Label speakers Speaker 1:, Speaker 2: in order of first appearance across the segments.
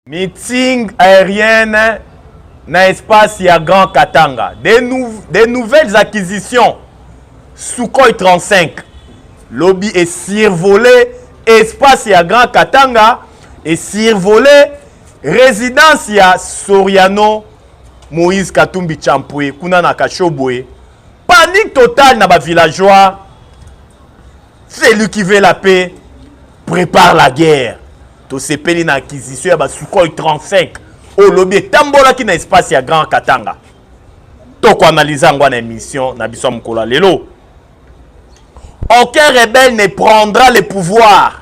Speaker 1: Meeting aérienne na espace ya Grand Katanga. Des, nou des nouvelles acquisitions. Sukhoi 35. Lobby est survolé. Espace ya Grand Katanga est survolé. Résidence ya Soriano Moïse Katumbi Champwe. Kuna na Kashobwe. Panique totale na ba villageois. Celui qui veut la paix prépare la guerre. tosepeli na acquisition ya basukhoi 35 oyo lobi etambolaki na espace ya grand katanga tokoanalyse yango na émission na biso ya mokolo ya lelo aucun rebelle ne prendra le pouvoir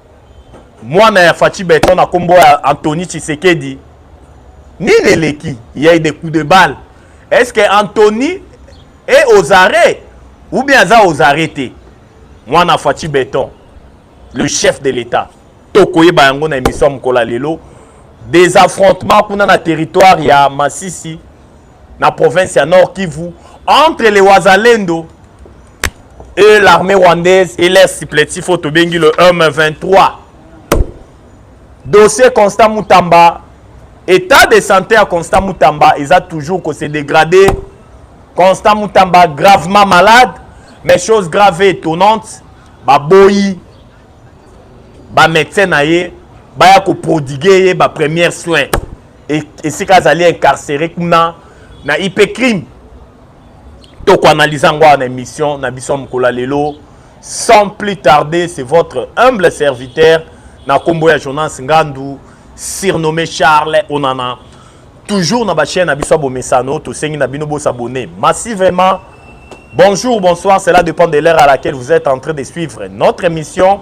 Speaker 1: mwana ya faci beton na nkombo ya antony tshisekedi nini eleki ya de coup de balle est ce que antony e aux arrêts ou bien aza aux arrêts te mwana faci beton le chef de l'état tokoyeba yango na émission ya mokolo ya lelo des affrontements kuna na territoire ya masisi na province ya Nord Kivu entre les Wazalendo et l'armée rwandaise et les supplétifs oyo tobengi le M23 dossier Constant Mutamba état de santé ya Constant Mutamba eza toujours ko se dégrader Constant Mutamba gravement malade mais chose grave et étonnante baboyi bamédecin na ye baya koprodiguer ye bapremière soin esika azali incarcere kuna na ip crime tokoanalyse yango awa na émission na biso mokolo ya lelo sans plus tarder c'est votre humble serviteur na nkombo ya jonas ngandu surnommé charles onana toujours na bachaine na biso ya bomesano tosengi na bino bosabone massivement bonjour bonsoir cela dépend de l'heure à laquelle vous êtes en train de suivre notre émission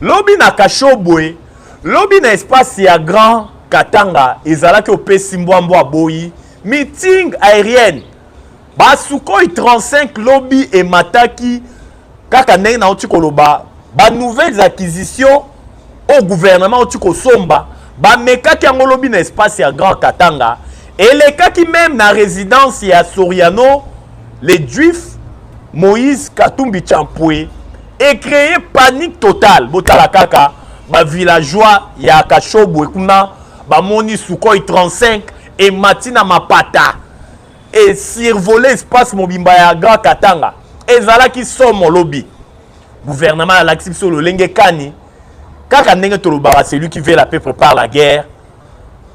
Speaker 1: lobi na kashobwe lobi na espace ya grand katanga ezalaki opesi mbwambwa aboyi meeting aérienne basukoi 35 lobi emataki kaka ndenge nauti koloba banouvelles acquisitions au gouvernement auti kosomba bamekaki yango lobi na espace ya grand katanga elekaki meme na résidence ya soriano le juif moïse katumbi champue ecreye panique totale botala kaka bavillageois ya kashobwe kuna bamoni sukoi 35 emati na mapata esurvole espace mobimba ya grand katanga ezalaki somo lobi guvernema alakisi biso lolenge kani kaka ndenge tolobaka celui qui veut la paix prépare la guerre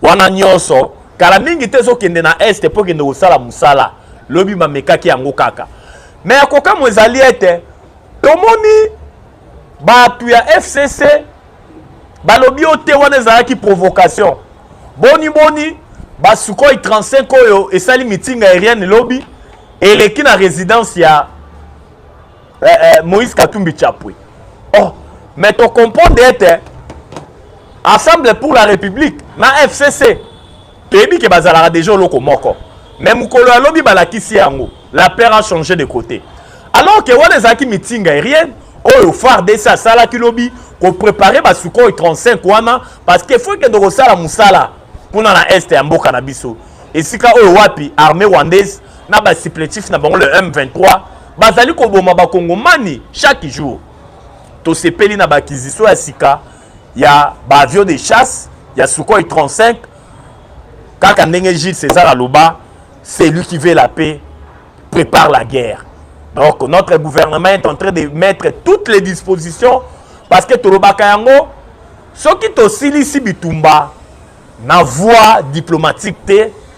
Speaker 1: wana nyonso kala mingi te ezokende na este mpo ekende kosala mosala lobi bamekaki yango kaka me ya kokamwa ezali ete tomoni bato ya fcc balobi yo te wana ezalaki provocation boni boni basukoi 35 oyo esali mitinga aérienne lobi eleki na résidence ya eh, eh, moïse katumbi chapwe oh, mais to comprendre ete assemble pour la république na fcc toyebi ke bazalaka deja oloko moko mais mokolo ya lobi balakisi yango la père a changé de côté alors ke wana ezalaki meeting aérienne oyo fardc asalaki lobi koprepare basukoi 35 wana parce que faut ekende kosala mosala kuna na este ya mboka na biso esika oyo wapi armée rwandaise na ba supplétifs na bango le M23 bazali koboma bakongomani chaque jour tosepeli na baakquisition ya sika ya baavion de chasse ya sukhoi 35 kaka ndenge gilles césar aloba celui qui veut la paix prépare la guerre donc notre gouvernement est en train de mettre toutes les dispositions parce que tolobaka yango soki tosilisi bitumba na voie diplomatique te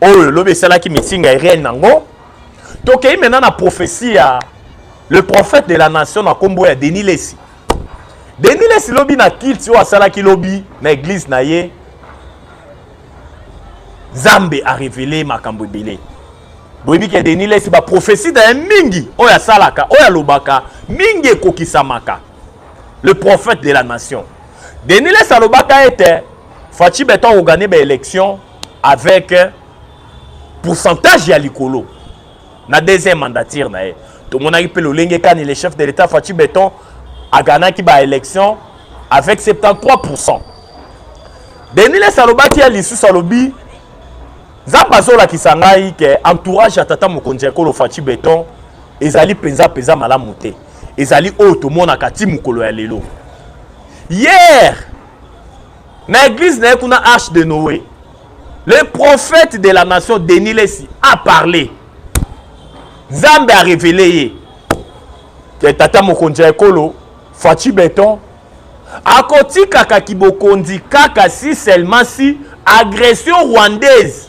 Speaker 1: oyo lobi esalaki meeting aérienne nango tokei maintenant na prophétie ya le prophète de la nation na nkombo ya denis lesi denis lesi lobi na kilti oyo asalaki lobi na eglize na ye nzambe arevele makambo ebele boyebi ke denis lesi baprofesi na ye mingi oyo asalaka oyo alobaka mingi ekokisamaka le prophète de la nation denis lesi alobaka ete faci beton akogane baélection avec pourcentage ya likolo na deuxième mandature na ye tomonaki mpe lolenge kani le chef de l'état faci beton aganaki baélection avec 73 pourcent denis les alobaki ya lisusu alobi nzambe azolakisa ngai ke entourage ya tata mokonzi ya ekolo faci beton ezali mpenza mpenza malamu te ezali oyo tomonaka ti mokolo ya lelo hier na eglise na ye kuna arche de noé le prophète de la nation denis lesi a parle nzambe a révélé ye ke tata mokonzi ya ekolo faci beton akotikaka kibokonzi kaka si seulement si agression rwandaise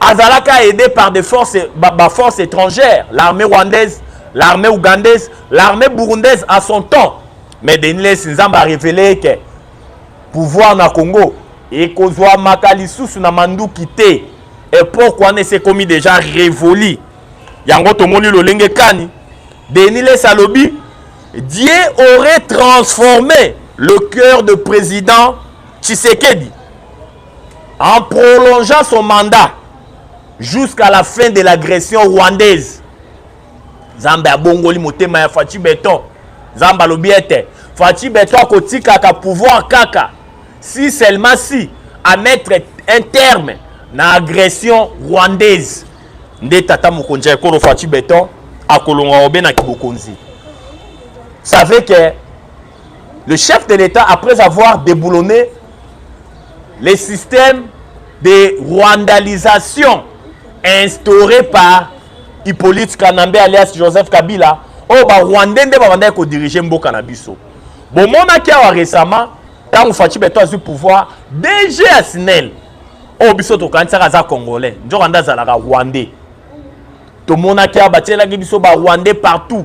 Speaker 1: azalaka aidé par des forces ba, ba force étrangère l'armée rwandaise l'armée ougandaise l'armée burundaise à son temps mais denis lesi nzambe arévele eke pouvoir na congo ekozwamaka lisusu na manduki te epoke wana esekomi deja révoli yango tomoni lolenge kani denis lesi alobi dieu aurait transformé le cœur de président tshisekedi en prolongeant son mandat jusqu'à la fin de l'agression rwandaise nzambe abongoli motema ya faci beton nzambe alobi ete faci beton akotikaka pouvoir kaka si seulement si à mettre un terme na agression rwandaise nde tata mokonzi ya ekolo faci beton akolonga obe na kibokonzi savez que Le chef de l'État, après avoir déboulonné les systèmes de rwandalisation instaurés par Hippolyte Kanambe alias Joseph Kabila, oyo oh, barwandais nde babandaki kodirige mboka na biso bomonaki awa récemment ntango faci beto azwi pouvoir dg ya snel oyo oh, biso tokanisaka aza congolais nzoka nde azalaka rwandais tomonaki awa batielaki biso barwandais partout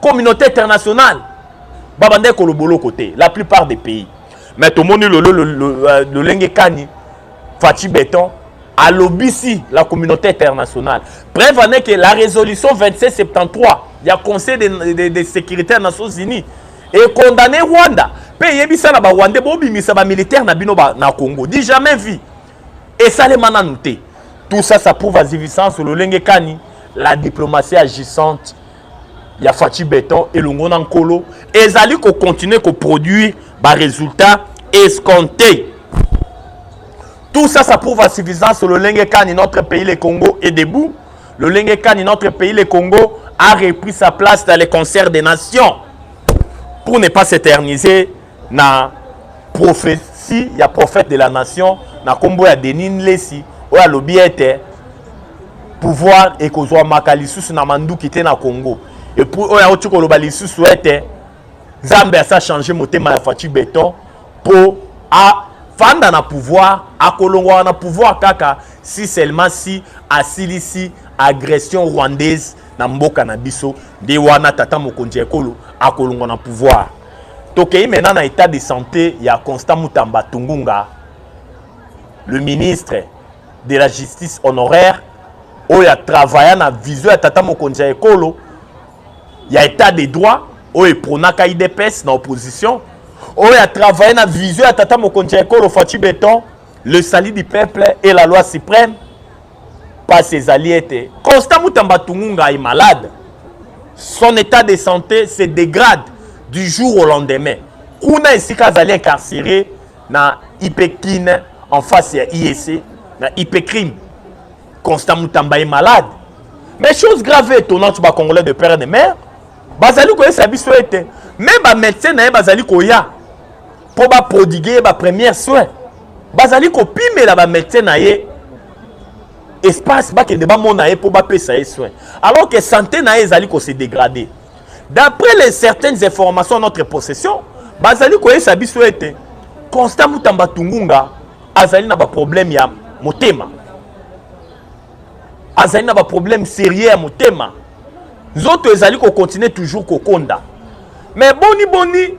Speaker 1: communauté internationale babanda ekolo boloko te la plupart des pays mais tomoni lelo euh, lolenge kani faci beton alobisi la communauté internationale preuve en est que la résolution 2773 ya conseil de, de, de sécurité ya nations unies ekondane rwanda mpe eyebisa na barwandais bobimisa bamilitaire na bino ba, na congo di jamais vie esalema nanu te tout ça ça prouve azivisance lolenge kani la diplomatie agissante ya faci beton elongo na nkolo ezali kocontinue koproduire baresultat escompte tout ça ça prouve insuffisance lolenge kani notre pays le congo est debout lolenge kani notre pays le congo a repris sa place dans les concerts des nations pour ne pas s'éterniser na prophetie ya prophète de la nation na kombo ya Denis Nlesi oyo alobi ete pouvoir ekozwamaka lisusu na manduki te na Congo epuis oyo auti koloba lisusu ete nzambe asa change motema ya faci beton mpo afanda na pouvoir akolongwaka na pouvoir kaka si seulement si asilisi agression rwandaise na mboka na biso nde wana tata mokonzi ya ekolo akolongwa na pouvoir Tokei maintenant na état de santé ya Constant Mutamba Tungunga, le ministre de la justice honoraire oyo atravaya na vision ya tata mokonzi ya ekolo ya état de droit oyo epronaka idps na opposition oyo atravaya na vision ya tata mokonzi ya ekolo faci beton le salut du peuple et la loi suprême Pasi ezali ete Constant Mutamba Tungunga est malade. Son état de santé se dégrade du jour au lendemain. Kuna esika azali incarcéré na Ipekin en face ya IEC na Ipecrime. Constant Mutamba est malade. Mais chose grave et étonnante ba Congolais de père et de mère bazali koyesa biso ete me bamédecin na ye bazali koya mpo baprodigue ye bapremière soin bazali kopimela bamédecin na ye espace bakende bamona ye mpo bapesa ye soin alors que santé na ye ezali kose dégrader d'après les certaines informations à notre possession bazali koyesa biso ete constant mutamba tungunga azali na baproblème ya motema azali na baproblème sérieux ya motema nzoto ezali kokontinue toujours kokonda mais boni boni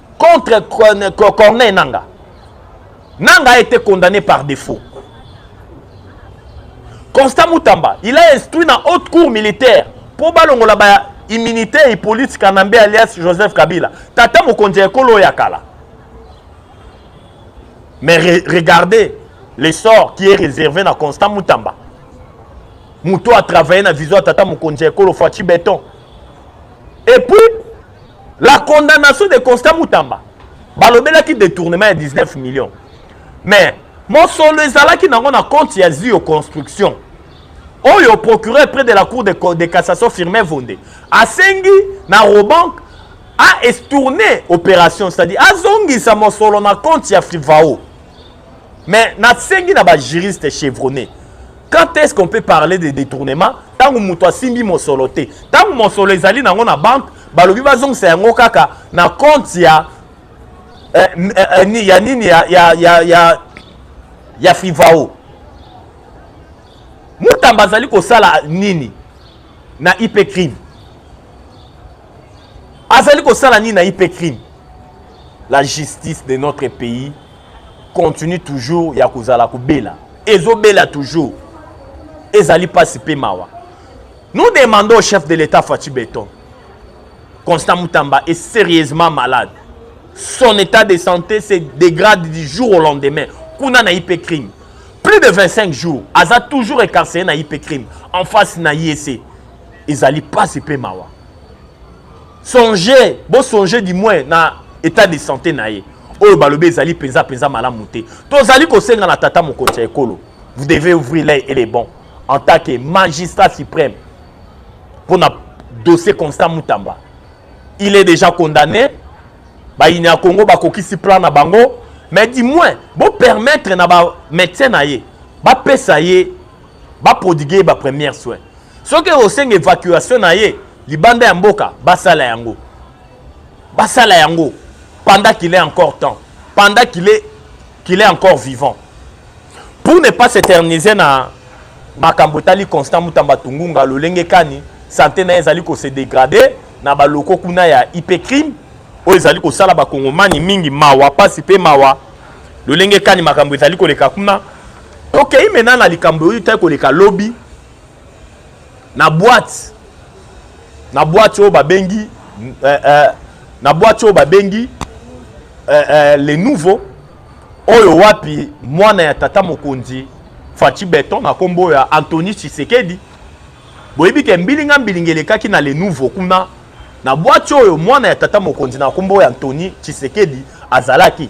Speaker 1: contre Corneille Nanga. Nanga a été condamné par défaut. Constant Moutamba, il a instruit dans haute cour militaire pour balongola ba immunité et police Kanambe alias Joseph Kabila. Tata Mokonzi Ekolo Yakala. Mais re regardez l'essor qui est réservé dans Constant Moutamba. Mouto a travaillé dans Vision Tata Mokonzi Ekolo Fatih Béton. Et puis, La condamnation de Constant Mutamba balobelaki détournement ya 19 millions mais mosolo ezalaki nango na compte ya zio construction oyo procureur près de la cour de, de cassation firmin vonde asengi na robank a estourne opération c'est-à-dire azongisa mosolo na compte ya frivao mais nasengi na bajuriste chevronne quand est ce qu'on peut parler de détournement ntango moto asimbi mosolo te ntango mosolo ezali nango na banque balobi bazongisa yango kaka na compte ya eh, eh, eh, ya nini ya, ya, ya, ya, ya frivao mutamba azali kosala nini na ip crime azali kosala nini na ip crime la justice de notre pays continue toujours ya kozala kobela ezobela toujours ezali mpasi mpe mawa nous demandons au chef de l'état faci beton constant mutamba est sérieusement malade son état de santé se dégrade du jour au lendemain kuna na ip crime plus de 25 jours aza toujours écarcéré na ip crime en face na yese ezali mpasi mpe mawa Songez, bo songez du moins na état de santé na ye. Oyo balobi ezali penza penza malamu te. Tozali kosenga na tata mokonzi ya ekolo. Vous devez ouvrir l'œil et les bons en tant que magistrat suprême pour na dossier Constant Mutamba. Il est déjà condamné. Ba inya Congo ba kokisi plan na bango mais du moins bo permettre na ba médecin na ye ba pesa ye ba prodigue ye ba première soin soki osenga évacuation na ye libanda ya mboka basala yango basala yango pendant qu'il est encore temps pendant qu'il est, qu'il est encore vivant pour ne pas s'éterniser na makambo etali constant mutamba tungunga lolenge kani sante na ye ezali kose degrade na baloko kuna ya ip crime oyo ezali kosala bakongomani mingi mawa mpasi mpe mawa lolenge kani makambo ezali koleka kuna Tokei mena na likambo oyo tai koleka lobi na boite na boite oyo babengi eh, eh, na boite oyo babengi eh, eh, le nouveau oyo wapi mwana ya tata mokonzi faci beton na nkombo ya antony tshisekedi boyebi ke mbilinga mbilinga elekaki na le nouveau kuna na bwati oyo mwana ya tata mokonzi na nkombo ya antony tshisekedi azalaki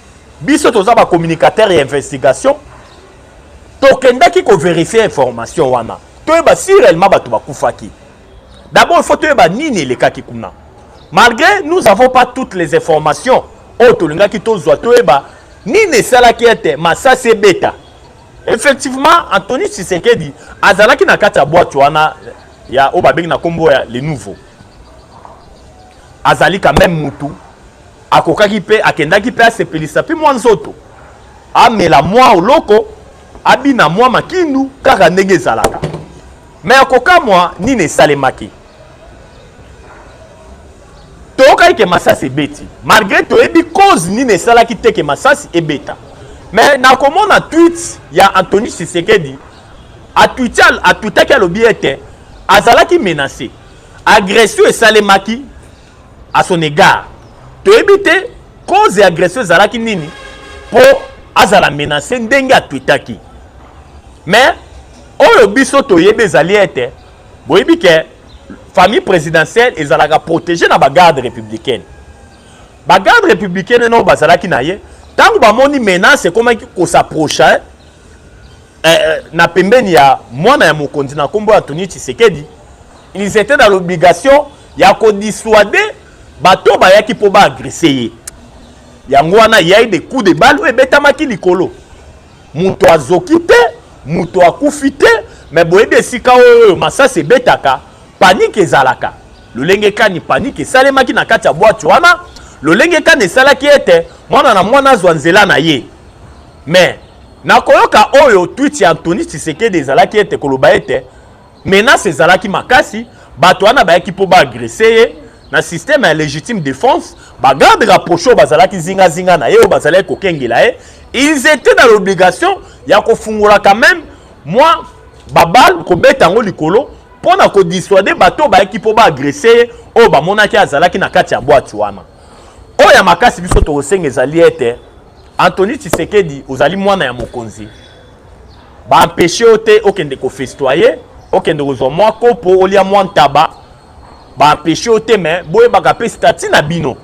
Speaker 1: biso toza ba communicateur ya investigation tokendaki koverifie information wana toyeba si réellement bato bakufaki d'abord il faut toyeba nini elekaki kuna malgré nous avons pas toutes les informations oyo tolingaki tozwa toyeba nini esalaki ete masasi ebeta effectivement antony tshisekedi azalaki na kati ya bwatu wana ya oyo babengi na nkombo ya le nouveau azali quand même mutu akokaki mpe akendaki mpe asepelisa mpe mwa nzoto amela mwa oloko abina mwa makindu kaka ndenge ezalaka me ya kokamwa nini esalemaki toyokaki ke masasi ebeti malgre toyebi cause nini esalaki te ke masasi ebeta me nakomona twit ya antony sisekedi atwitaki alobi ete azalaki menase agression esalemaki à son égard toyebi te cause ya agression ezalaki nini mpo azala menace ndenge atwitaki mais oyo biso toyebi ezali ete boyebi ke famille présidentielle ezalaka protégé na bagarde républicaine bagarde républicaine eno bazalaki na ye ntango bamoni menace ekomaki kosaproche eh, eh, na pembeni ya mwana ya mokonzi na nkombo ya Antonio Tshisekedi ils étaient dans l'obligation ya kodissuader bato oyo bayaki mpo baagrese ye yango wana yai de coup de balle oyo ebetamaki likolo moto azoki te moto akufi te me boyebi esika oyo masasi ebetaka panike ezalaka lolenge kani panike esalemaki na kati ya bwati wana lolenge kani esalaki ete mwana na mwana azwa nzela na ye mais Na koyoka oyo tweet ya Anthony Tshisekedi ezalaki ete koloba ete menace ezalaki makasi, bato wana bayaki mpo ba agresser ye na système ya légitime défense, ba gardes rapprochés oyo bazalaki zinga zinga na ye oyo bazalaki kokengela ye, ils étaient dans l'obligation ya kofungola quand même mwa babale kobeta yango likolo mpo na kodissuade bato oyo bayaki mpo ba agresser ye oyo bamonaki azalaki na kati ya bwati wana. Oyo ya makasi biso tokosenga ezali ete Anthony Tshisekedi ozali mwana ya mokonzi baempeshe yo te okende kofestoye okende kozwa mwa kopo olia mwa ntaba baempeshe yo te me boyebaka mpe stati na bino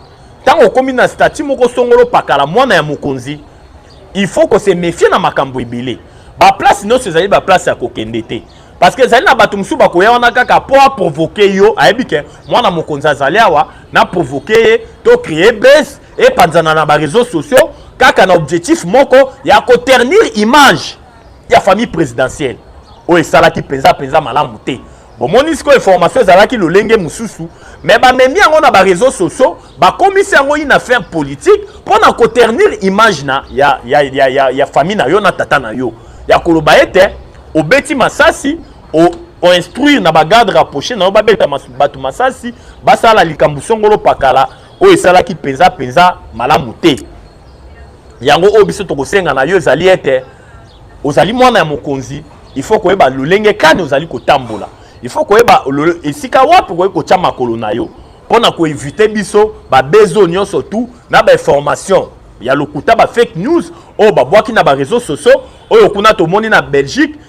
Speaker 1: ntango okomi na stati moko songolo pakala mwana ya mokonzi il faut kose mefie na makambo ebele baplace nyonso ezali baplace ya kokende te parce que ezali na bato mosusu bakoya wana kaka mpo aprovoke yo ayebi ke mwana mokonzi azali awa na provoke ye to cree base epanzana na ba réseaux sociaux kaka na objectif moko ya ko ternir image ya famille présidentielle oyo esalaki mpenza mpenza malamu te bomoni sikoyo information ezalaki lolenge mosusu me bamemi yango na bareseau sociaux bakomisi yango une affaire politique mpo na koternir image na ya, ya, ya, ya, ya famille na yo na tata na yo ya koloba ete obeti masasi o, oinstruire na bagarde rapproché na yo babeta mas, bato masasi basala likambo songolo pakala oyo esalaki mpenza mpenza malamu te yango oyo biso tokosenga na yo ezali ete ozali mwana ya mokonzi il faut koyeba lolenge kani ozali kotambola il faut koyeba esika wapi okoki kotya makolo na yo mpo na koevite biso babezo nyonso tu na bainformation ya lokuta bafake news oyo babwaki na bareseau sociaux oyo kuna tomoni na belgique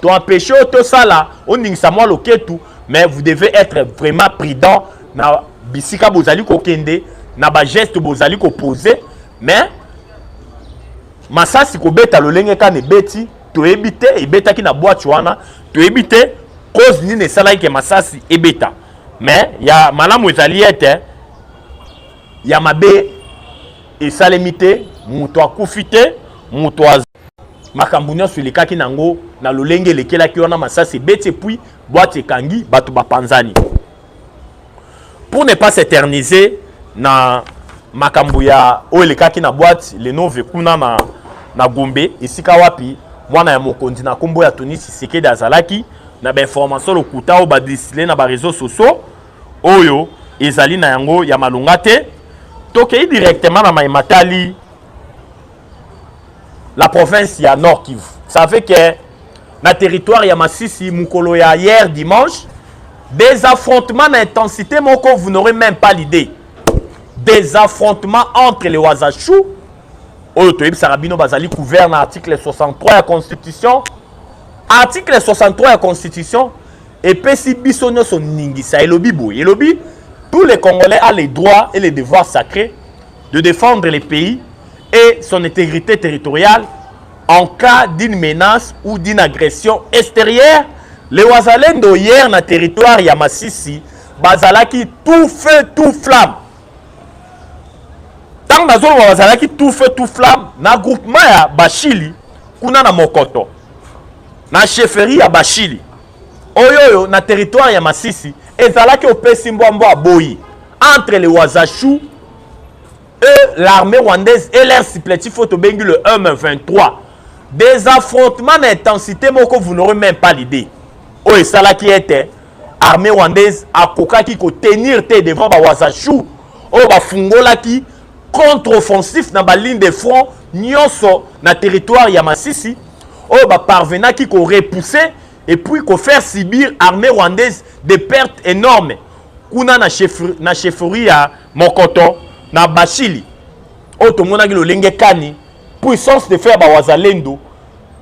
Speaker 1: To empêcher yo tosala, ondingisa mwa loketu, mais vous devez être vraiment prudent na bisika bozali kokende, na ba gestes bozali koposer, mais masasi kobeta lolenge kani ebeti toyebi te ebetaki na bwati wana toyebi te cause nini esalaki ke masasi ebeta mais ya malamu ezali ete ya mabe esalemi te moto akufi te moto makambo nyonso elekaki na yango na lolenge elekelaki wana masasi ebeti epuis bwati ekangi bato bapanzani pour ne pas s'éterniser na makambo ya oyo elekaki na bwati lenove kuna na, na gombe esika wapi mwana ya mokonzi na nkombo ya toni sisekedi azalaki na bainformation lokuta oyo badistile na bareseau sociaux oyo ezali na yango ya malonga te tokei directement na mai matali la province ya Nord Kivu. Ça fait que na territoire ya Masisi mukolo ya hier dimanche des affrontements d'intensité moko vous n'aurez même pas l'idée. Des affrontements entre les Wazachou oyo toyebisaka bino bazali couvert na article 63 ya constitution article 63 ya constitution epesi biso nyonso ningisa elobi boye elobi tous les congolais a les droits et les devoirs sacrés de défendre le pays et son intégrité territoriale en cas d'une menace ou d'une agression extérieure les wazalendo hier na territoire ya masisi bazalaki tout feu tout flamme ntango nazoloba bazalaki tout feu tout flamme na groupement ya bashili kuna na mokoto na chefferie ya bashili oyo oyo na territoire ya masisi ezalaki opesi mbwa mbwa aboyi entre le wazachou et l'armée rwandaise et leur supplétif oyo tobengi le m23 des affrontements na intensité moko vous n'aurez même pas l'idée oyo esalaki ete armée rwandaise akokaki kotenir te devant bawazachou oyo bafungolaki contre-offensif na baligne de front nyonso na territoire ya masisi oyo ba parvenaki ko repousser et puis ko faire subir armée rwandaise des pertes énormes kuna na chefferie na chefferie ya Mokoto na Bashili oyo tomonaki lolenge kani puissance de fer ba wazalendo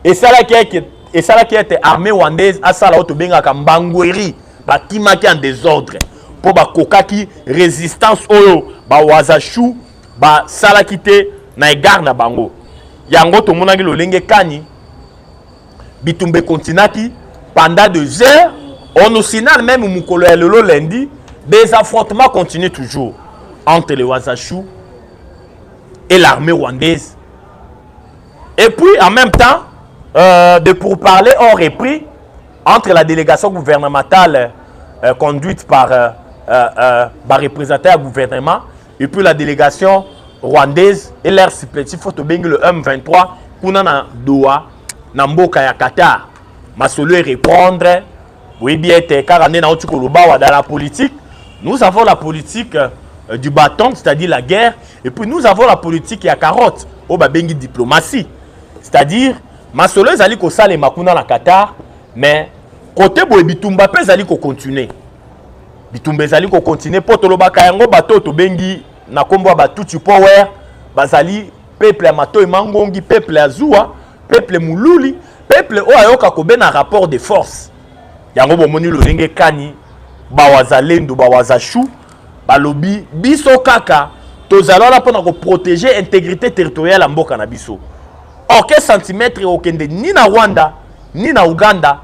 Speaker 1: esalaki eke esalaki ete armée rwandaise asala oyo tobengaka mbangweri bakimaki en désordre mpo bakokaki résistance oyo bawazashu basalaki te na egare na bango yango tomonaki lolenge kani bitumba ekontinaki pendant deux heures on nous signale même mokolo ya lelo lundi des affrontements continuent toujours entre les wazachou et l'armée rwandaise et puis en même temps euh, de pourparlers ont repris entre la délégation gouvernementale euh, conduite par euh, euh, euh, bah, représentant du gouvernement et puis la délégation rwandaise et leur supplétif faut tobengi le M23 kuna na Doha na mboka ya Qatar masolo e répondre boyebi ete kaka nde nauti koloba wa dans la politique nous avons la politique euh, du bâton c'est-à-dire la guerre et puis nous avons la politique ya carotte oyo babengi diplomatie c'est-à-dire masolo ezali kosalema kuna na Qatar mais kote boye bitumba mpe ezali kocontinue bitumba ezali kokontinue mpo tolobaka yango bato oyo tobengi na nkombo ya batuti power bazali peuple ya matoi mangongi peuple ya zuwa peuple moluli peuple oyo ayoka kobe na rapport de force yango bomoni lolenge kani bawazalendo bawazashu balobi biso kaka tozali wana mpo na koprotege intégrité territoriale ya mboka na biso orke centimetre okende ni na rwanda ni na uganda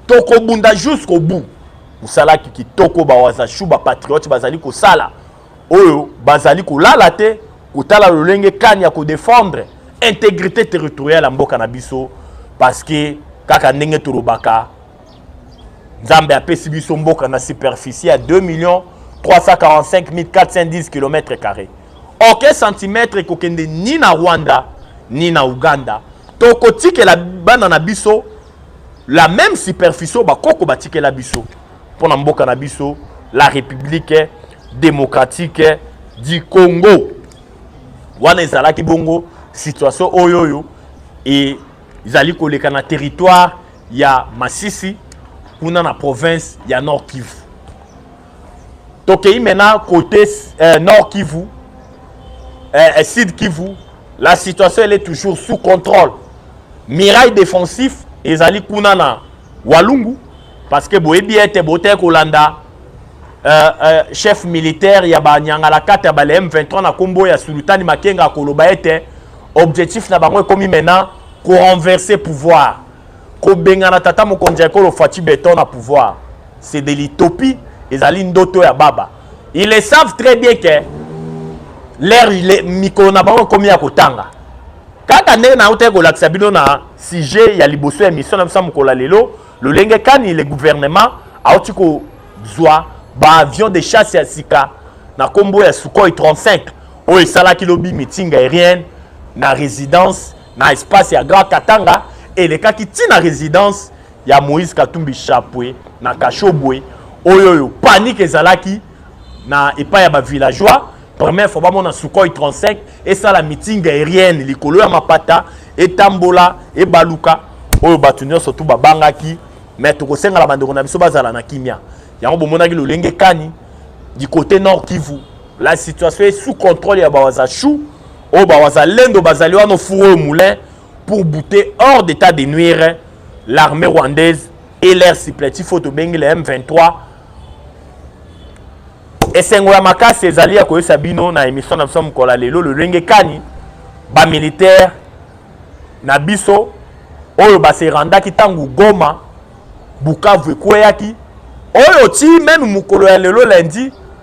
Speaker 1: tokobunda jusqu'au bout mosalaki kitoko bawazashu bapatriote bazali kosala oyo bazali kolala te kotala lolenge kani ya kodefendre intégrité territoriale ya mboka na biso parce que kaka ndenge tolobaka nzambe apesi biso mboka na superficie ya 2 millions 345 410 km carré oke centimètre ekokende ni na rwanda ni na uganda tokotikela bana na biso la même superficie oyo bakoko batikela biso mpo na mboka na biso la république démocratique du congo wana ezalaki bongo situation oyo oyo ezali koleka na territoire ya masisi kuna na province ya nord kivu tokei maintenant côté euh, nord kivu euh, euh, sud kivu la situation elle est toujours sous contrôle mirail défensif ezali kuna na walungu parce que boyebi ete botee kolanda euh, euh, chef militaire ya banyangalakata ya bale m23 na nkombo ya sulutani makenga akoloba ete objectif na bango ekomi maintenant korenverse pouvoir kobengana tata mokonzi ya ekolo faci beton na pouvoir c'est de l'utopie ezali ndoto ya baba ils le savent très bien que leur mikolo na bango ekomi ya kotanga kaka ndenge nautaki kolakisa bino na sujet ya liboso ya mission na biso ya mokolo ya lelo lolenge kani le gouvernement auti kozwa baavion de chasse ya sika na nkombo ya sukhoi 35 oyo esalaki lobi mitinga aérienne na résidence na espace ya Grand Katanga elekaki ntina na residence ya Moïse Katumbi Chapwe na Kashobwe oyo oyo panique ezalaki na epai ya ba villageois première fois bamona Sukhoi 35 esala meeting aérienne likolo ya mapata etambola ebaluka oyo bato nyonso tu babangaki me tokosengala bandeko na biso bazala na kimia yango bomonaki lolenge kani du côté nord kivu la situation est sous contrôle ya bawazachou oyo bawazalendo bazali wana ofuru oyo moulin pour bouter hors d'état de nuire l'armée rwandaise et leur supplétif oyo tobengi le m23 esengo ya makasi ezali ya koyesa bino na émission na biso mokolo ya lelo lolenge kani bamilitaire na biso oyo baserandaki ntango goma bukavu ekweyaki oyo ti meme mokolo ya lelo lundi